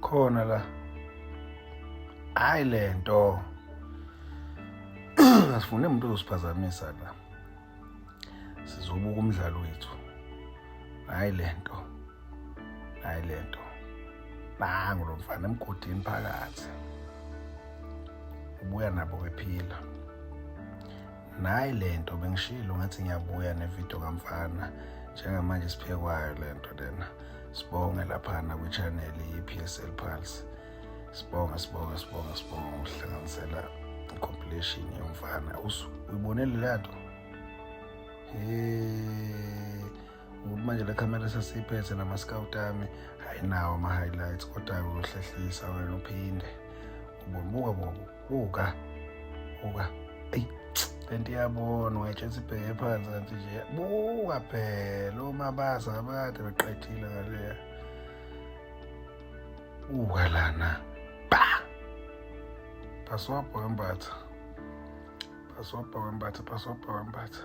khona la hayi le nto asifune umuntu ozosiphazamisa la sizobuka umdlalo wethu hayi le nto hayi le nto nangu lo mfana emgodini phakathi ubuya nabo bephila nayi le nto bengishilo ngathi ngiyabuya nevidiyo kamfana njengamanje siphekwayo le nto lena sibonge laphana kwi-channel i-p s l pulse sibonge sibonge sibonge sibonge ngokuhlanganisela i-compilation yomfana uyibonele leya nto um ngokuthi manje le camera sesiyiphethe nama-scout ami hhayi nawo ama-highlights kodwa-ke uyohlehlisa wena uphinde ubobuka bobo buka buka eyi le nto iyabona ungayitshela sibheke phansi kanti nje buka phela omabaza abade beqedile ngaleya buka lana ba phaswabha wembatha phaswabha wembatha phaswabha wembatha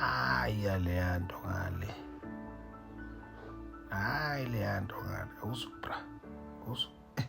hayi yaleya nto ngale hayi leya nto ngale usubra usu eh,